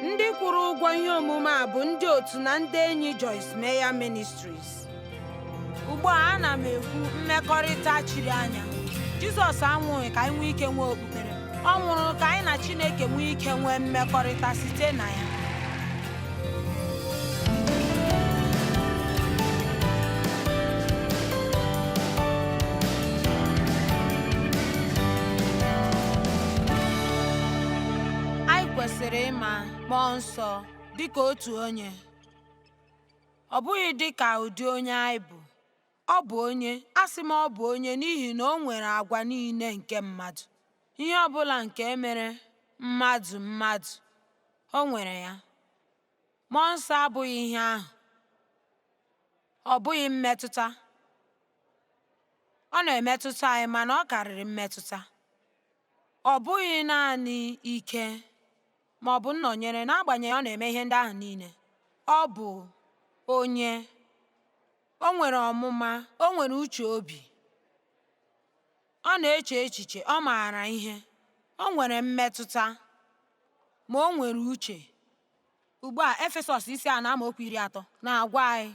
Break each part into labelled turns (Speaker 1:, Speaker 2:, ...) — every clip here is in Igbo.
Speaker 1: Ndị kwụrụ ụgwọ ihe omume a bụ ndị otu na ndị enyi Joyce Meyer Ministries. Ugbu a ana m ekwu mmekọrịta chiri anya. Jizọs anwụghị ka anyị nwee ike nwee okpukpere. Ọ nwụrụ ka anyị na Chineke nwee ike nwee mmekọrịta site na ya. anyị kwesịrị ịma mmụọ nsọ dị ka otu onye ọ bụghị dị ka ụdị onye anyị bụ ọ bụ onye asị m ọ bụ onye n'ihi na o nwere agwa niile nke mmadụ ihe ọ bụla nke mere mmadụ mmadụ O nwere ya. Mmụọ nsọ abụghị ihe ahụ. Ọ bụghị mmetụta. Ọ na-emetụta anyị mana ọ karịrị mmetụta. Ọ bụghị naanị ike ma ọ bụ nnọnyere n'agbanyeghị ọ na-eme ihe ndị ahụ niile. Ọ bụ onye. O nwere ọmụma, o nwere uche obi. Ọ na-eche echiche, ọ maara ihe, o nwere mmetụta, ma o nwere uche. Ugbu a, Efesọs isi anọ amaokwu iri atọ na-agwa anyị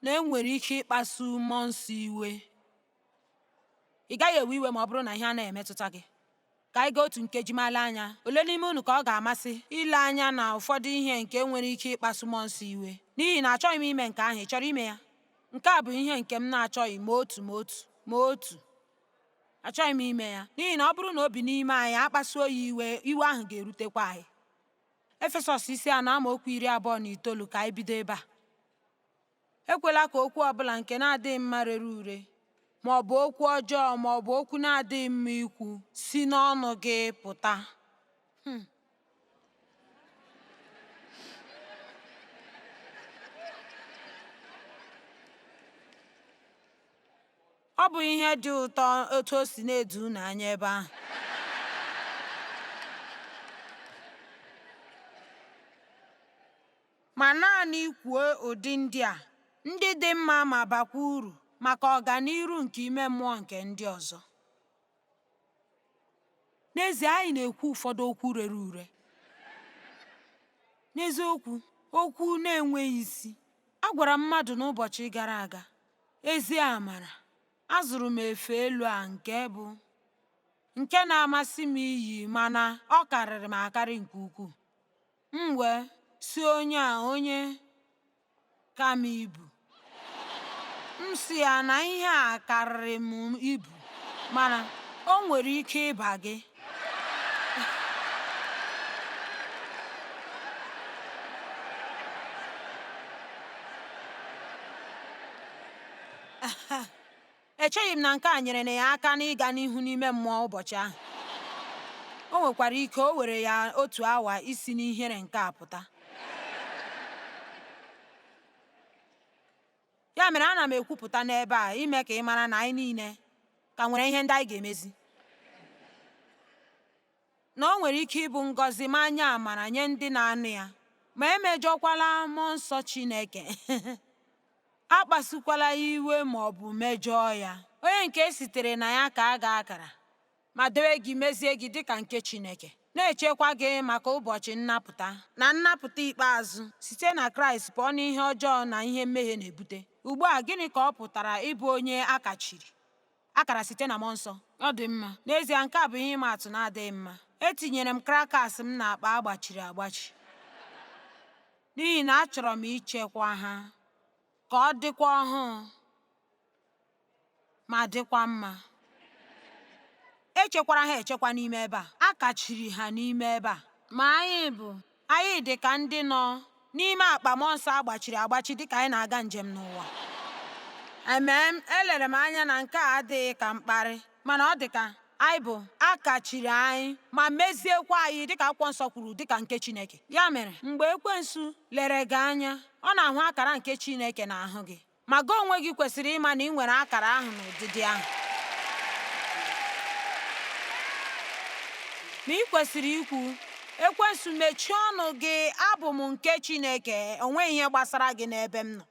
Speaker 1: na e nwere ike ịkpasu mmụọ nsọ iwe. Ị gaghị ewe iwe ma ọ bụrụ na ihe anaghị emetụta gị. Ka anyị gaa otu nkeji ma lee anya. Ole n'ime unu ka ọ ga-amasị ile anya na ụfọdụ ihe nke nwere ike ịkpasu mmụọ nsọ iwe? N'ihi na achọghị m ime nke ahụ, ị chọrọ ime ya? Nke a bụ ihe nke m na-achọghị ma otu ma otu ma otu. Achọghị m ime ya, n'ihi na ọ bụrụ na o bi n'ime anyị akpasuo ya iwe, iwe ahụ ga-erutekwa anyị. Efesọs isi anọ amaokwu iri abụọ na itoolu ka anyị bido ebe a. Ekwela ka okwu ọ bụla nke na-adịghị mma rere ure, ma ọ bụ okwu ọjọọ ma ọ bụ okwu na-adịghị mma ikwu si n'ọnụ gị pụta. Hmm. Ọ bụ ihe dị ụtọ otu o si na-edo unu anya ebe ahụ. ma naanị kwuo ụdị ndị a, ndị dị mma ma bakwa uru maka ọganiru nke ime mmụọ nke ndị ọzọ. N'ezie, anyị na-ekwu ụfọdụ okwu rere ure. N'eziokwu, okwu na-enweghị isi. Agwara m mmadụ n'ụbọchị gara aga, ezi amara, azụrụ m efe elu a nke bụ nke na-amasị m iyi mana ọ karịrị m akarị nke ukwuu. M wee sị onye a onye ka m ibu. M sị ya na ihe a karịrị m ibu mana o nwere ike ịba gị. Echeghị m na nke a nyere na ya aka n'ịga n'ihu n'ime mmụọ ụbọchị ahụ. O nwekwara ike o were ya otu awa isi n'ihere nke a pụta. Ya mere ana m ekwupụta n'ebe a ime ka ị mara na anyị niile ka nwere ihe ndị anyị ga-emezi. na o nwere ike ịbụ ngọzi ma nye amara nye ndị na-anụ ya ma emejọkwala mmụọ nsọ Chineke akpasukwala ya iwe ma ọ bụ mejọọ ya onye nke e sitere na ya kaa gị akara ma dowe gị mezie gị dịka nke Chineke na-echekwa gị maka ụbọchị nnapụta na nnapụta ikpeazụ site na Kraịst pụọ n'ihe ọjọọ na ihe mmehie na-ebute ugbu a gịnị ka ọ pụtara ịbụ onye a kachiri akara site na mmụọ nsọ. Ọ dị mma. N'ezie, nke a bụ ihe ịma atụ na-adịghị mma. Etinyere m crackers m n'akpa a gbachiri agbachi n'ihi na achọrọ m ichekwa ha ka ọ dịkwa ọhụụ ma dịkwa mma. Echekwara ha echekwa n'ime ebe a. A kachiri ha n'ime ebe a. Ma anyị bụ Anyị dị ka ndị nọ n'ime akpa mmụọ nsọ a gbachiri agbachi dịka anyị na-aga njem n'ụwa. Amen, elere m anya na nke a adịghị ka mkparị, mana ọ dị ka anyị bụ a kachiri anyị ma meziekwa anyị dịka akwụkwọ nsọ kwuru dịka nke Chineke. Ya mere, mgbe ekwensu lere gị anya, ọ na-ahụ akara nke Chineke n'ahụ gị. Ma gị onwe gị kwesịrị ịma na ị nwere akara ahụ na ụdịdị ahụ. Ma ị kwesịrị ikwu, Ekwensu, mechie ọnụ gị, abụ m nke Chineke, o nweghị ihe gbasara gị n'ebe m nọ.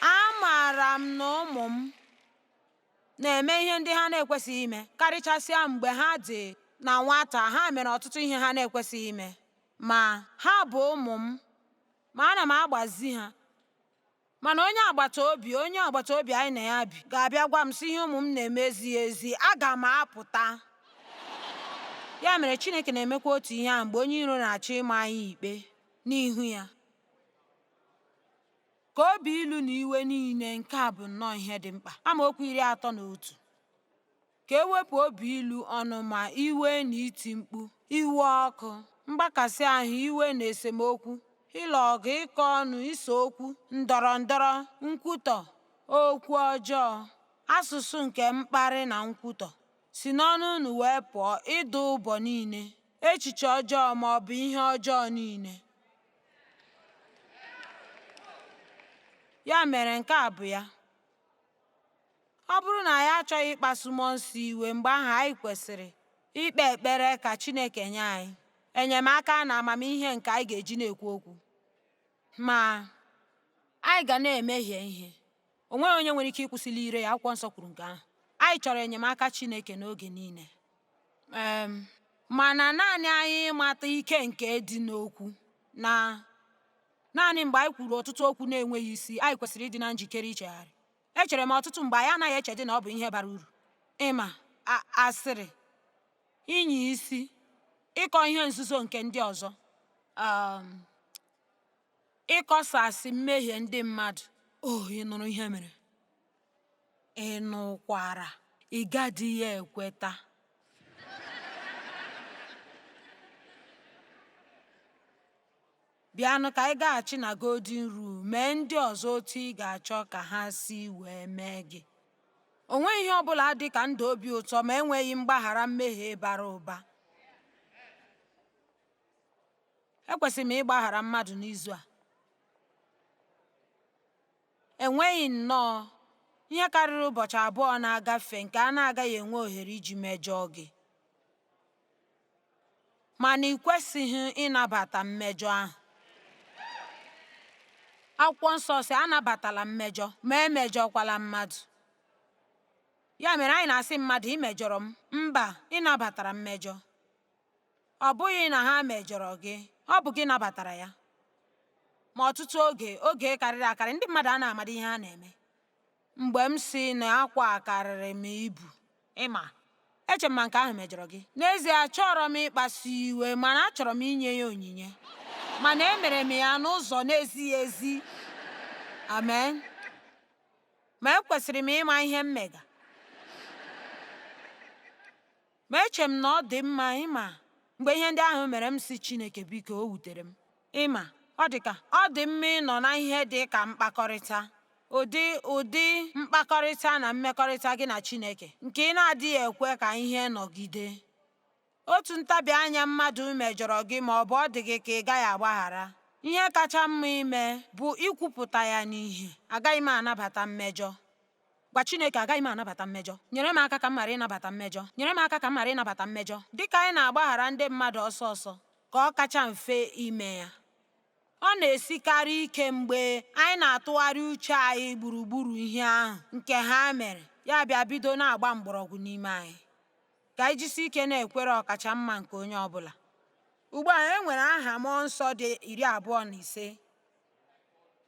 Speaker 1: Amaara m na ụmụ m na-eme ihe ndị ha na-ekwesịghị ime, karịchasịa mgbe ha dị na nwata, ha mere ọtụtụ ihe ha na-ekwesịghị ime. Ma, ha bụ ụmụ m, ma ana m agbazi ha. Mana onye agbata obi onye agbata obi anyị na ya bi ga-abịa gwa m sị ihe ụmụ m na-eme ezighị ezi, aga m apụta. Ya mere, Chineke na-emekwa otu ihe ahụ mgbe onye iro na-achọ ịma anyị ikpe n'ihu ya. Ka obi ilu na iwe niile nke a bụ nnọọ ihe dị mkpa. Amaokwu iri atọ na otu. Ka e wepụ obi ilu, ọnụma, iwe na iti mkpu, iwe ọkụ, mgbakasị ahụ, iwe na esemokwu, ịlụ ọgụ, ịkọ ọnụ, ise okwu, ndọrọ ndọrọ, nkwutọ, okwu ọjọọ, asụsụ nke mkparị na nkwutọ. Si n'ọnụ unu wee pụọ ịdụ ụbọ niile, echiche ọjọọ ma ọ bụ ihe ọjọọ niile. Ya mere nke a bụ ya. Ọ bụrụ na anyị achọghị ịkpasu mmụọ nsọ iwe, mgbe ahụ anyị kwesịrị ikpe ekpere ka Chineke nye anyị enyemaka na amamihe nke anyị ga-eji na-ekwu okwu. Ma, anyị ga na-emehie ihe. O nweghị onye nwere ike ịkwụsịli ire ya, Akwụkwọ Nsọ kwuru nke ahụ. Anyị chọrọ enyemaka Chineke n'oge niile. Um, mana naanị anyị ịmata ike nke dị n'okwu na naanị mgbe anyị kwuru ọtụtụ okwu na-enweghị isi anyị kwesịrị ịdị na njikere ichegharị Echere m ọtụtụ mgbe anyị anaghị echedị na ọ bụ ihe bara uru ịma asịrị, ịnya isi, ịkọ ihe nzuzo nke ndị ọzọ, um, ịkọsasị mmehie ndị mmadụ. Oh, ị nụrụ ihe mere? Ị nụkwara? Ị gadịghị ekweta. Bịanụ ka anyị gaghachi na Golden Rule, mee ndị ọzọ otu ị ga-achọ ka ha si wee mee gị. O nweghị ihe ọ bụla dị ka ndụ obi ụtọ ma enweghị mgbaghara mmehie bara ụba. Ekwesịrị m ịgbaghara mmadụ n'izu a? Enweghị nnọọ ihe karịrị ụbọchị abụọ na-agafe nke a na-agaghị enwe ohere iji mejọọ gị. mana ị kwesịghị ịnabata mmejọ ahụ akwụkwọ nsọ sị anabatala mmejọ ma emejọkwala mmadụ ya mere anyị na-asị mmadụ ị mejọrọ m mba ị nabatara mmejọ ọ bụghị na ha mejọrọ gị ọ bụ gị nabatara ya ma ọtụtụ oge oge karịrị akarị ndị mmadụ anaghị amadị ihe ha na-eme Mgbe m sị na akwa a karịrị m ibu, ị ma, eche m ma nke ahụ mejọrọ gị. N'ezie, achọrọ m ịkpasu iwe, mana achọrọ m inye ya onyinye. Mana emere m ya n'ụzọ na-ezighị ezi. Amen. Ma ekwesịrị m ịma ihe m mega. Ma eche m na ọ dị mma, ị ma, mgbe ihe ndị ahụ mere m sị Chineke biko o wutere m. Ị ma, ọ dị ka ọ dị mma ịnọ na ihe dị ka mkpakọrịta, ụdị ụdị mkpakọrịta na mmekọrịta gị na Chineke nke ị na-adịghị ekwe ka ihe nọgide. Otu ntabi anya mmadụ mejọrọ gị ma ọ bụ ọ dị gị ka ị gaghị agbaghara, ihe kacha mma ime bụ ikwupụta ya n'ihe, agaghị m anabata mmejọ. Gwa Chineke, agaghị m anabata mmejọ. Nyere m aka ka m ghara ịnabata mmejọ. Nyere m aka ka m ghara ịnabata mmejọ. Dị ka anyị na-agbaghara ndị mmadụ ọsọ ọsọ ka ọ kacha mfe ime ya, ọ na-esikarị ike mgbe anyị na-atụgharị uche anyị gburugburu ihe ahụ nke ha mere, ya bịa bido na-agba mgbọrọgwụ n'ime anyị. Ka anyị jisi ike na-ekwere ọkacha mma nke onye ọ bụla. Ugbu a e nwere aha mmụọ nsọ dị iri abụọ na ise.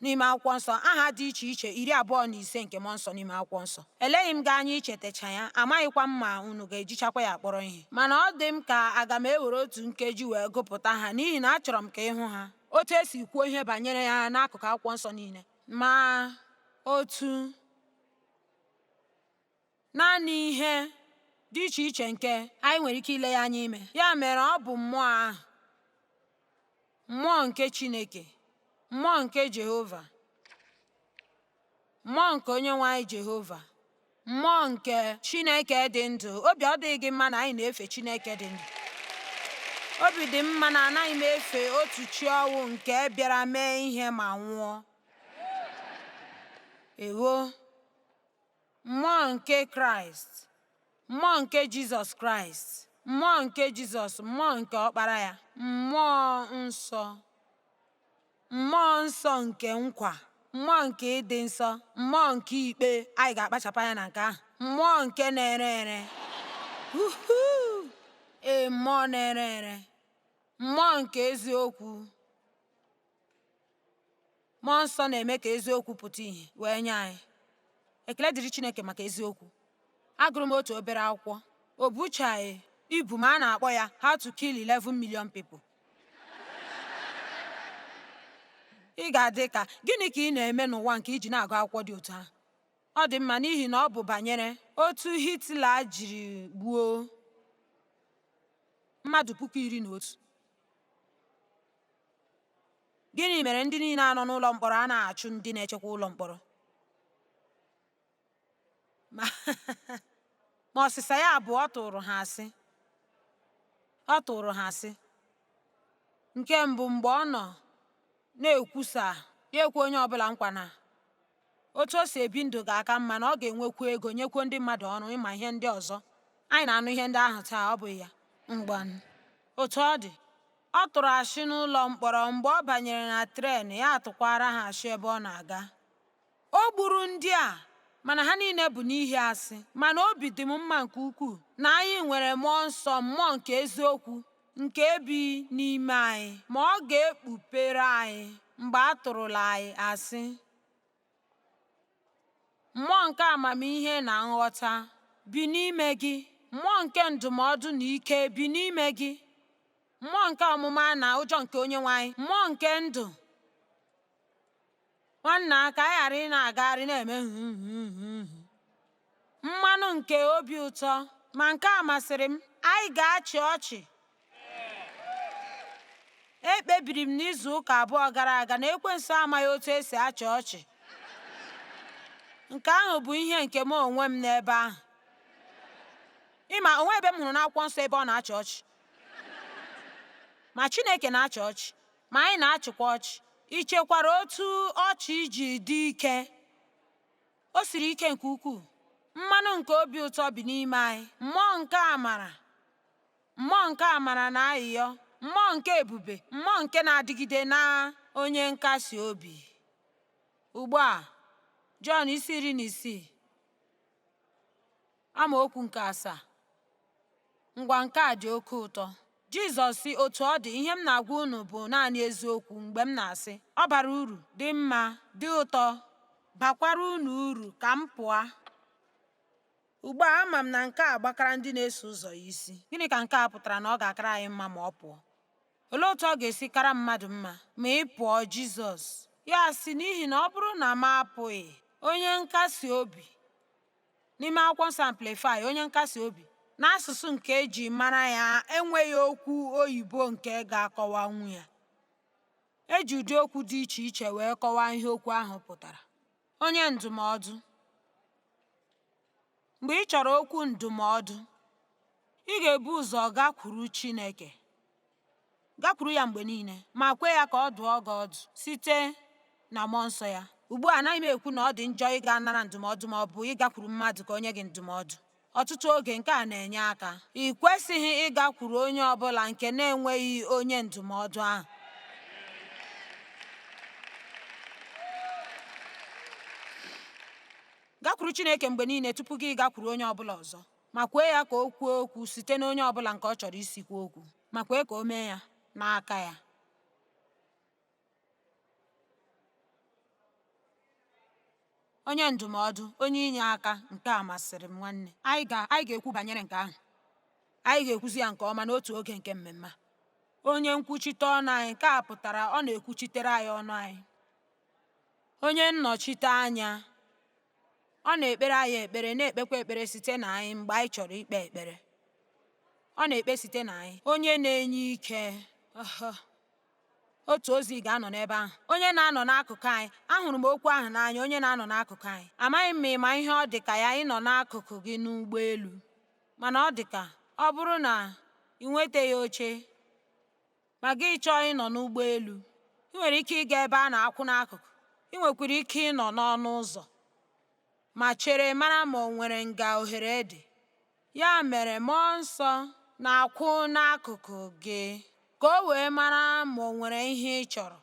Speaker 1: n'ime akwụkwọ nsọ aha dị iche iche iri abụọ na ise nke mmụọ nsọ n'ime akwụkwọ nsọ eleghị m gị anya ichetacha ya amaghịkwa m ma unu ga-ejichakwa ya kpọrọ ihe mana ọ dị m ka aga m ewere otu nkeji wee gụpụta ha n'ihi na achọrọ m ka ị hụ ha otu e si kwuo ihe banyere ya n'akụkụ akwụkwọ nsọ niile ma otu Naanị ihe dị iche iche nke anyị nwere ike ile ya anya ime. Ya mere ọ bụ mmụọ ahụ, mmụọ nke Chineke, mmụọ nke Jehova, mmụọ nke Onyenwe anyị Jehova, mmụọ nke Chineke dị ndụ. Obi ọ dịghị gị mma na anyị na-efe Chineke dị ndụ? Obi dị m mma na anaghị m efe otu chi ọnwụ nke bịara mee ihe ma nwụọ. Ewo! Mmụọ nke Kraịst, mmụọ nke Jizọs Kraịst, mmụọ nke Jizọs, mmụọ nke Ọkpara ya, mmụọ nsọ, mmụọ nsọ nke nkwa, mmụọ nke ịdị nsọ, mmụọ nke ikpe, anyị ga-akpachapụ anya na nke ahụ, mmụọ nke na-ere ere, ee, mmụọ na-ere ere, mmụọ nke eziokwu. Mmụọ nsọ na-eme ka eziokwu pụta ìhè wee nye anyị. Ekele dịrị Chineke maka eziokwu. Agụrụ m otu obere akwụkwọ. O buchaghị ibu ma a na-akpọ ya How to Kill 11 Million People. Ị ga-adị ka gịnị ka ị na-eme n'ụwa nke i ji na-agụ akwụkwọ dị otu ahụ? Ọ dị mma n'ihi na ọ bụ banyere otu Hitler jiri gbuo mmadụ puku iri na otu. Gịnị mere ndị niile a nọ n'ụlọ mkpọrọ anaghị achụ ndị na-echekwa ụlọ mkpọrọ? Ma ọsịsa ya bụ ọ tụrụ ha asị. Ọ tụrụ ha asị. Nke mbụ mgbe ọ nọ na-ekwusa ya ekwe onye ọbụla nkwa na otu o si ebi ndụ ga-aka mma na ọ ga-enwekwu ego nyekwuo ndị mmadụ ọrụ ị ma ihe ndị ọzọ anyị na-anụ ihe ndị ahụ taa ọ bụghị ya ngwanụ otu ọ dị ọ tụrụ asị n'ụlọ mkpọrọ mgbe ọ banyere na tren ya atụkwara ha asị ebe ọ na-aga o gburu ndị a mana ha niile bụ n'ihi asị mana obi dị m mma nke ukwuu na anyị nwere mmụọ nsọ mmụọ nke eziokwu nke bi n'ime anyị, ma ọ ga-ekpupere anyị mgbe a tụrụla anyị asị. Mmụọ nke amamihe na nghọta bi n'ime gị, mmụọ nke ndụmọdụ na ike bi n'ime gị, mmụọ nke ọmụma na ụjọ nke Onyenwe anyị mmụọ nke ndụ Nwanna, ka anyị ghara ị na-agagharị na-eme nhụhụhụhụ mmanụ nke obi ụtọ, ma nke a masịrị m, anyị ga-achị ọchị. Ekpebiri m n'izu ụka abụọ gara aga na ekwensu amaghị otu esi achị ọchị. Nke ahụ bụ ihe nke m onwe m n'ebe ahụ. Ị ma o nwe ebe m hụrụ n'akwụkwọ nsọ ebe ọ na-achị ọchị. Ma Chineke na-achị ọchị. Ma anyị na-achịkwa ọchị. I chekwara otu ọchị ji dị ike? O siri ike nke ukwuu. Mmanụ nke obi ụtọ bi n'ime anyị, mmụọ nke amara, mmụọ nke amara na ayịyọ, mmụọ nke ebube, mmụọ nke na-adịgide na onye nkasi obi. Ugbu a, Jọn isi iri na isii. Amaokwu nke asaa Ngwa nke a dị oke ụtọ Jizọs sị otu ọ dị ihe m na-agwa unu bụ naanị eziokwu mgbe m na-asị ọ bara uru dị mma dị ụtọ bakwara unu uru ka m pụọ ugbu a ama m na nke a gbakara ndị na-eso ụzọ ya isi gịnị ka nke a pụtara na ọ ga-akara anyị mma ma ọ pụọ olee otu ọ ga-esi kara mmadụ mma ma ị pụọ Jizọs ya sị n'ihi na ọ bụrụ na m apụghị onye nkasi obi N'ime Akwụkwọ Nsọ Amplify, onye nkasi obi, n'asụsụ nke e ji mara ya enweghị okwu oyibo nke ga-akọwanwu ya. E ji ụdị okwu dị iche iche wee kọwaa ihe okwu ahụ pụtara. Onye ndụmọdụ. Mgbe ị chọrọ okwu ndụmọdụ, ị ga-ebu ụzọ gakwuru Chineke. gakwuru ya mgbe niile ma kwe ya ka ọ dụọ gị ọdụ site na mmụọ nsọ ya ugbu a anaghị m ekwu na ọ dị njọ ịga nara ndụmọdụ ma ọ bụ ịgakwuru mmadụ ka o nye gị ndụmọdụ ọtụtụ oge nke a na-enye aka ị kwesịghị ịgakwuru onye ọ bụla nke na-enweghị onye ndụmọdụ ahụ gakwuru Chineke mgbe niile tupu gị gakwuru onye ọ bụla ọzọ ma kwee ya ka o kwuo okwu site n'onye ọbụla nke ọ chọrọ isi kwuo okwu ma kwee ka o mee ya n'aka ya onye ndụmọdụ onye inye aka nke a masịrị m nwanne anyị ga-ekwu banyere nke ahụ anyị ga-ekwuzi ya nke ọma n'otu oge nke mmemme onye nkwuchite ọnụ anyị nke a pụtara ọ na-ekwuchitere anyị ọnụ anyị onye nnọchite anya Ọ na-ekpere anyị ekpere, na-ekpekwa ekpere site na anyị mgbe anyị chọrọ ikpe ekpere. Ọ na-ekpe site na anyị. Onye na-enye ike. Uh-huh. otu ozi ga-anọ n'ebe ahụ onye na-anọ n'akụkụ anyị ahụrụ m okwu ahụ n'anya onye na-anọ n'akụkụ anyị amaghị m ma ị ma ihe ọ dị ka ya ịnọ n'akụkụ gị n'ụgbọelu mana ọ dị ka ọ bụrụ na i nwetaghị oche ma gị chọọ ịnọ n'ụgbọelu i nwere ike ịga ebe a na-akwụ n'akụkụ i nwekwara ike ịnọ n'ọnụ ụzọ ma chere mara ma o nwere nga ohere dị ya mere mmụọ nsọ na-akwụ n'akụkụ gị ka o wee mara ma o nwere ihe ị chọrọ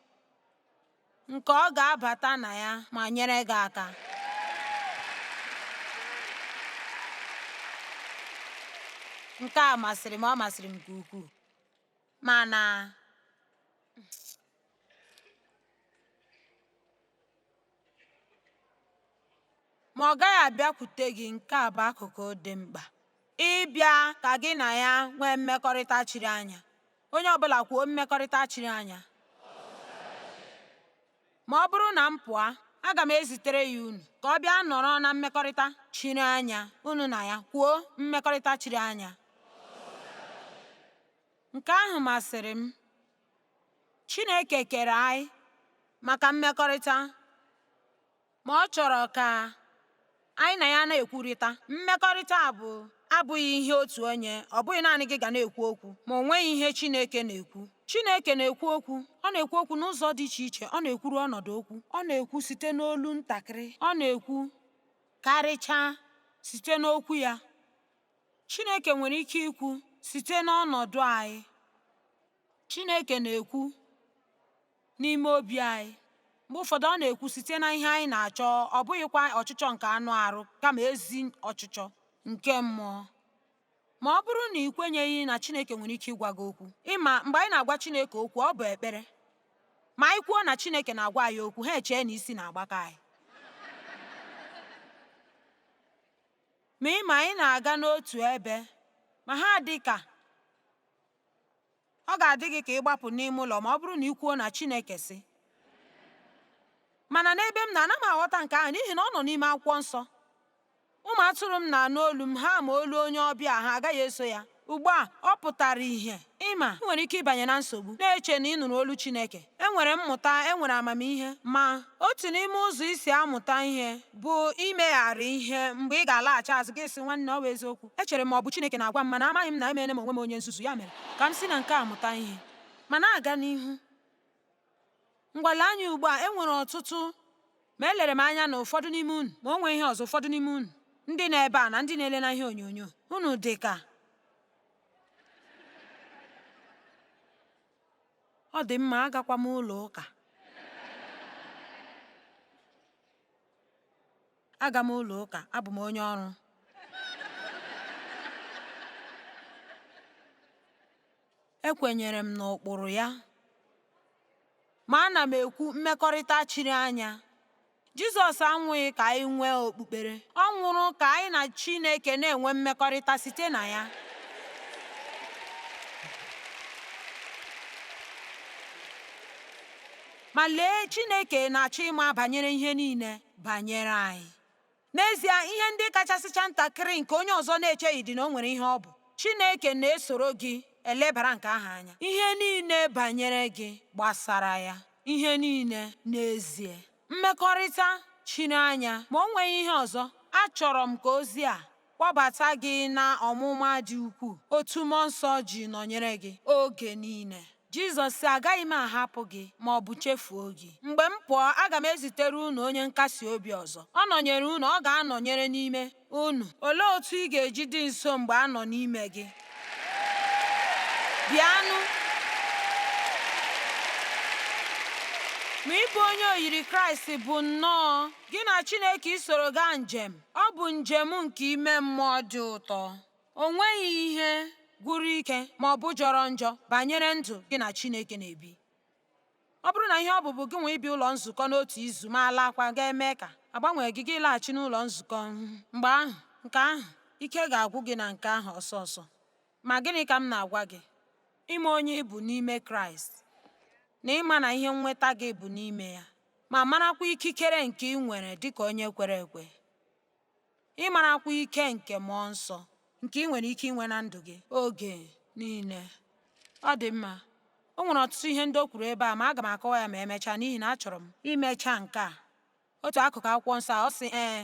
Speaker 1: nke ọ ga-abata na ya ma nyere gị aka nke a masịrị m ọ masịrị m nke ukwuu mana ma ọ gaghị abịakwute gị nke a bụ akụkụ dị mkpa ịbịa ka gị na ya nwee mmekọrịta chiri anya onye ọbụla kwuo mmekọrịta chiri anya Ma ọ bụrụ na m pụọ, aga m ezitere ya unu ka ọ bịa nọrọ na mmekọrịta chiri anya, unu na ya. Kwuo mmekọrịta chiri anya. Nke ahụ masịrị m. Chineke kere anyị maka mmekọrịta. ma ọ chọrọ ka anyị na ya na-ekwurịta. Mmekọrịta a bụ abụghị ihe otu onye, ọ bụghị naanị gị ga na-ekwu okwu, ma o nweghị ihe Chineke na-ekwu. Chineke na-ekwu okwu, ọ na-ekwu okwu n'ụzọ dị iche iche, ọ na-ekwuru ọnọdụ okwu, ọ na-ekwu site n'olu ntakịrị, ọ na-ekwu karịchaa site n'okwu ya. Chineke nwere ike ikwu site n'ọnọdụ anyị. Chineke na-ekwu n'ime obi anyị. Mgbe ụfọdụ ọ na-ekwu site na ihe anyị na-achọ, ọ bụghịkwa ọchịchọ nke anụ arụ, kama ezi ọchịchọ nke mmụọ. Ma ọ bụrụ na i kwenyeghị na Chineke nwere ike ịgwa gị okwu, ị ma mgbe anyị na-agwa Chineke okwu ọ bụ ekpere. Ma anyị kwuo na Chineke na-agwa anyị okwu, ha echee na isi na-agbaka anyị. Ma ị ma anyị na-aga n'otu ebe, ma ha dị ka ọ ga-adị gị ka ị gbapụ n'ime ụlọ ma ọ bụrụ na i kwuo na Chineke sị mana n'ebe m nọ ana m aghọta nke ahụ n'ihi na ọ nọ n'ime akwụkwọ nsọ ụmụ atụrụ m na-anụ olu m ha ma olu onye ọbịa ha agaghị eso ya ugbu a ọ pụtara ihe ị ma i nwere ike ịbanye na nsogbu na-eche na ị nụrụ olu Chineke e nwere mmụta e nwere amamihe ma otu n'ime ụzọ isi amụta ihe bụ imegharị ihe mgbe ị ga-alaghachi azụ gị sị nwanne ọ bụ eziokwu echere m ọ bụ Chineke na-agwa m mana amaghị m na emeela m onwe m onye nzuzu ya mere ka m si na nke a mụta ihe ma na-aga n'ihu ngwa lee anya ugbu a e nwere ọtụtụ ma elere m anya na ụfọdụ n'ime unu ma o nwee ihe ọzọ ụfọdụ n'ime unu ndị nọ ebe a na ndị na-ele na ihe onyonyo unu dị ka ọ dị mma agakwa m ụlọ ụka aga m ụlọ ụka abụ m onye ọrụ ekwenyere m n'ụkpụrụ ya ma ana m ekwu mmekọrịta chiri anya Jizọs anwụghị ka anyị nwee okpukpere, ọ nwụrụ ka anyị na Chineke na-enwe mmekọrịta site na ya. Ma lee, Chineke na-achọ ịma banyere ihe niile banyere anyị. N'ezie, ihe ndị kachasịcha ntakịrị nke onye ọzọ na-echeghị dị na o nwere ihe ọ bụ. Chineke na-esoro gị elebara nke ahụ anya. Ihe niile banyere gị gbasara ya. ihe niile n'ezie. Mmekọrịta chiri anya, ma o nweghị ihe ọzọ, achọrọ m ka ozi a kpọbata gị na ọmụma dị ukwuu otu Mmụọ Nsọ ji nọnyere gị oge niile. Jizọs sị, Agaghị m ahapụ gị ma ọ bụ chefuo gị. Mgbe m pụọ, aga m ezitere unu Onye Nkasi Obi ọzọ. Ọ nọnyere unu, ọ ga-anọnyere n'ime. unu. Olee otu ị ga-eji dị nso mgbe a nọ n'ime gị? Bịanụ. Ma ịbụ onye oyiri Kraịst bụ nnọọ gị na Chineke isoro gaa njem. Ọ bụ njem nke ime mmụọ dị ụtọ. O nweghị ihe gwụrụ ike ma ọ bụ jọrọ njọ banyere ndụ gị na Chineke na-ebi. Ọ bụrụ na ihe ọ bụ bụ gị nwa ịbịa ụlọ nzukọ n'otu izu ma alaakwa ga-eme ka a gbanwee gị gị laghachi n'ụlọ nzukọ mgbe ahụ nke ahụ ike ga-agwụ gị na nke ahụ ọsọ ọsọ. Ma gịnị ka m na-agwa gị? Ịma onye ị bụ n'ime Kraịst na ịma na ihe nnweta gị bụ n'ime ya ma marakwa ikikere nke ị nwere dịka onye kwere ekwe. ịmarakwa ike nke mmụọ nsọ nke ị nwere ike inwe na ndụ gị oge niile ọ dị mma o nwere ọtụtụ ihe ndị o kwuru ebe a ma aga m akọwa ya ma emechaa n'ihi na achọrọ m imecha nke a otu akụkụ akwụkwọ nsọ ọ sị ee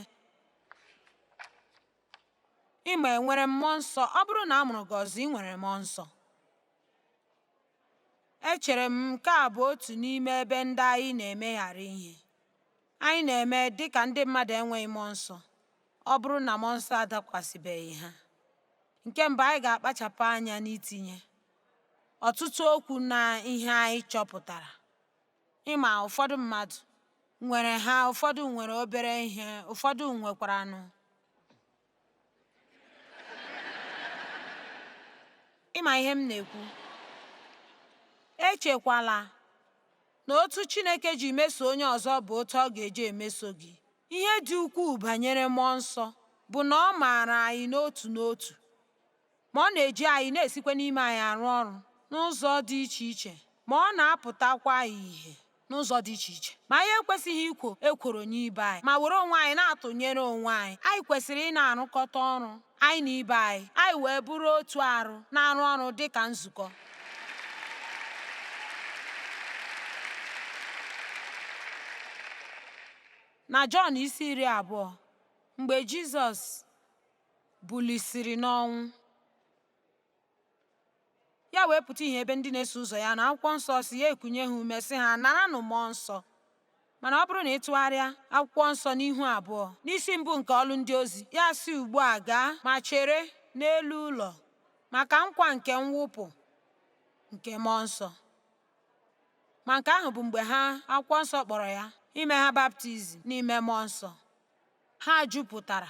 Speaker 1: ị ma e nwere mmụọ nsọ ọ bụrụ na a mụrụ gị ọzọ ị nwere mmụọ nsọ echere m nke a bụ otu n'ime ebe ndị anyị na-emeghara ihe Anyị na-eme dị ka ndị mmadụ enweghị mmụọ nsọ ọ bụrụ na mmụọ nsọ adakwasịbeghị ha. Nke mbụ, anyị ga-akpachapụ anya n'itinye ọtụtụ okwu na ihe anyị chọpụtara. Ị ma, ụfọdụ mmadụ nwere ha, ụfọdụ nwere obere ihe, ụfọdụ nwekwaranụ ị ma ihe m na-ekwu echekwala na otu Chineke ji meso onye ọzọ bụ otu ọ ga-eji emeso gị ihe dị ukwuu banyere mmụọ nsọ bụ na ọ maara anyị n'otu n'otu Ma ọ na-eji anyị, na-esikwa n'ime anyị arụ ọrụ n'ụzọ dị iche iche, ma ọ na-apụtakwa ìhè n'ụzọ dị iche iche. Ma anyị ekwesịghị ikwo ekworo nye ibe anyị ma were onwe anyị na-atụnyere onwe anyị. Anyị kwesịrị ịna-arụkọta ọrụ anyị na ibe anyị, anyị wee bụrụ otu arụ na-arụ ọrụ dị ka nzukọ. Na Jọn isi iri abụọ, mgbe Jizọs bulisiri n'ọnwụ. Ya wee pụta ìhè ebe ndị na-eso ụzọ ya nọ akwụkwọ nsọ sị ya ekunye ha ume sị ha naranụ mmụọ nsọ mana ọ bụrụ na ị tụgharịa akwụkwọ nsọ n'ihu abụọ n'isi mbụ nke ọlụ ndị ozi ya asị ugbu a gaa ma chere n'elu ụlọ maka nkwa nke mwụpụ nke mmụọ nsọ ma nke ahụ bụ mgbe ha akwụkwọ nsọ kpọrọ ya ime ha baptizim n'ime mmụọ nsọ Ha jupụtara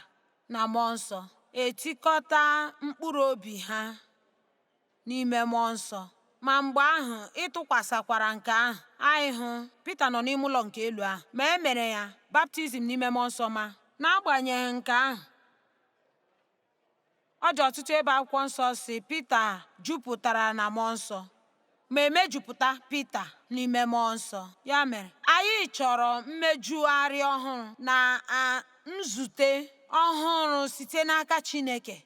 Speaker 1: na mmụọ nsọ, etikọta mkpụrụ obi ha n'ime mmụọ nsọ. Ma mgbe ahụ ịtụkwasịkwara nke ahụ, anyị hụ Pita nọ n'ime ụlọ nke elu ahụ, ma e mere ya baptizim n'ime mmụọ nsọ ma, n'agbanyeghị nke ahụ, Ọ dị ọtụtụ ebe akwụkwọ nsọ sị Pita jupụtara na mmụọ nsọ ma e mejupụta Pita n'ime mmụọ nsọ. Ya mere, anyị chọrọ mmejugharị ọhụrụ na nzute ọhụrụ site n'aka Chineke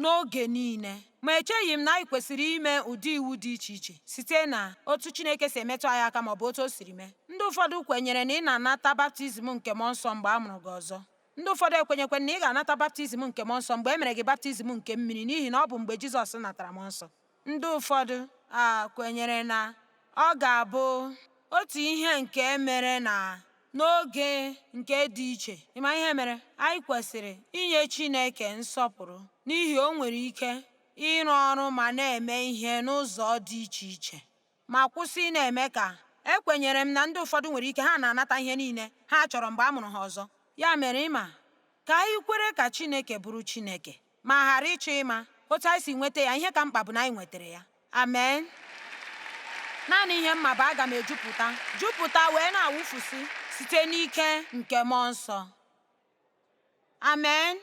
Speaker 1: n'oge niile. Ma echeghị m na anyị kwesịrị ime ụdị iwu dị iche iche site na otu Chineke si emetụ anyị aka ma ọ bụ otu o siri mee. Ndị ụfọdụ kwenyere na ị na-anata baptizim nke mmụọ nsọ mgbe a mụrụ gị ọzọ. Ndị ụfọdụ ekwenyekwa na ị ga-anata baptizim nke mmụọ nsọ mgbe e mere gị baptizim nke mmiri n'ihi na ọ bụ mgbe Jizọs natara mmụọ nsọ. Ndị ụfọdụ a kwenyere na ọ ga-abụ otu ihe nke e mere na n'oge nke dị iche. Ị ma ihe mere? Anyị kwesịrị inye Chineke nsọpụrụ n'ihi o nwere ike ịrụ ọrụ ma na-eme ihe n'ụzọ dị iche iche. ma kwụsị ị na-eme ka ekwenyere m na ndị ụfọdụ nwere ike ha na-anata ihe niile ha chọrọ mgbe a mụrụ ha ọzọ ya mere ị ma ka anyị kwere ka Chineke bụrụ Chineke ma ghara ịchọ ịma otu anyị si nweta ya ihe ka mkpa bụ na anyị nwetara ya amen naanị ihe m ma bụ aga m ejupụta jupụta wee na-awụfusị site n'ike nke mmụọ nsọ amen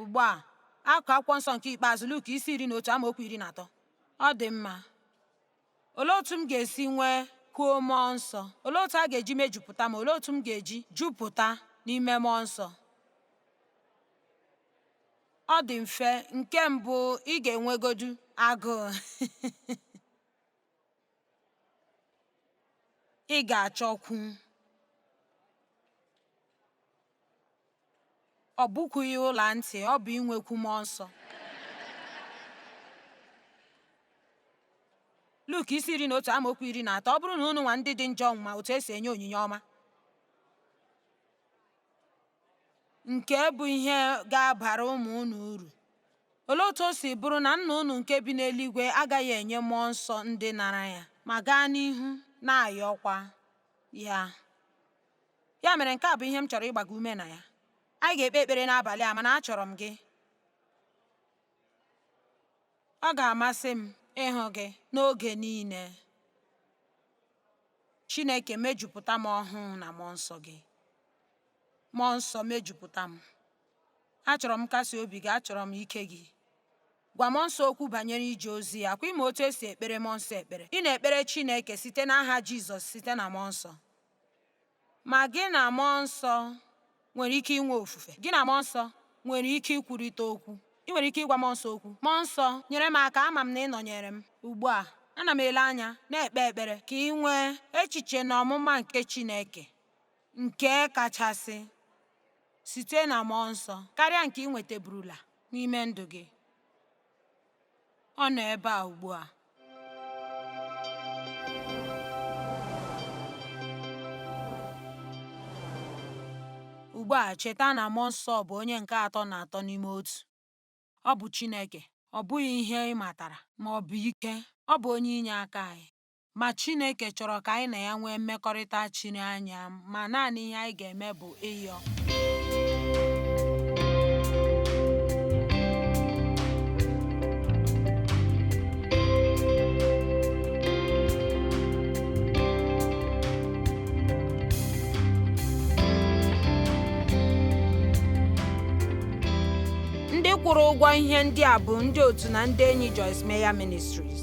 Speaker 1: ugbu a akụkụ akwụkwọ nsọ nke ikpeazụ Luk isi iri na otu amaokwu iri na atọ ọ dị mma olee otu m ga-esi nwekwuo mmụọ nsọ olee otu a ga-eji mejupụta m olee otu m ga-eji jupụta n'ime mmụọ nsọ ọ dị mfe nke mbụ ị ga-enwegodu agụụ Ị ga-achọkwu. Ọ bụkwughị ọla ntị, ọ bụ inwekwu mmụọ nsọ. Luk isi iri na otu amaokwu iri na atọ ọ bụrụ na unu nwa ndị dị njọ ma otu esi enye onyinye ọma nke bụ ihe ga-abara ụmụ unu uru. Olee otu o si bụrụ na Nna unu nke bi n'eluigwe agaghị enye mmụọ nsọ ndị nara ya? Ma gaa n'ihu na-ayọkwa ya. Ya mere nke a bụ ihe m chọrọ ịgba gị ume na ya. Anyị ga-ekpe ekpere n'abalị a mana achọrọ m gị. Ọ ga-amasị m ịhụ gị n'oge niile. Chineke mejupụta m ọhụụ na Mmụọ Nsọ gị. Mmụọ Nsọ mejupụta m. Achọrọ m nkasi obi gị, achọrọ m ike gị. Gwa Mmụọ Nsọ okwu banyere ije ozi ya. Kwa ị ma otu esi ekpere Mmụọ Nsọ ekpere. Ị na-ekpere Chineke site n'aha Jizọs site na Mmụọ Nsọ. Ma gị na Mmụọ Nsọ nwere ike inwe ofufe. Gị na Mmụọ Nsọ nwere ike ikwurịta okwu. Ị nwere ike ịgwa Mmụọ Nsọ okwu, Mmụọ Nsọ, nyere m aka, ama m na ị nọnyeere m. Ugbu a, ana m ele anya, na-ekpe ekpere ka ị nwee echiche na ọmụma nke Chineke nke kachasị site na Mmụọ Nsọ karịa nke ị nwetaburula n'ime ndụ gị. ọ nọ ebe a ugbu a ugbu a cheta na mmụọ nsọ bụ onye nke atọ na atọ n'ime otu ọ bụ Chineke ọ bụghị ihe ị matara ma ọ bụ ike ọ bụ onye inyeaka anyị Ma Chineke chọrọ ka anyị na ya nwee mmekọrịta chiri anya ma naanị ihe anyị ga-eme bụ ịyọ. Ndị kwụrụ ụgwọ ihe ndị a bụ ndị otu na ndị enyi Joyce Meyer Ministries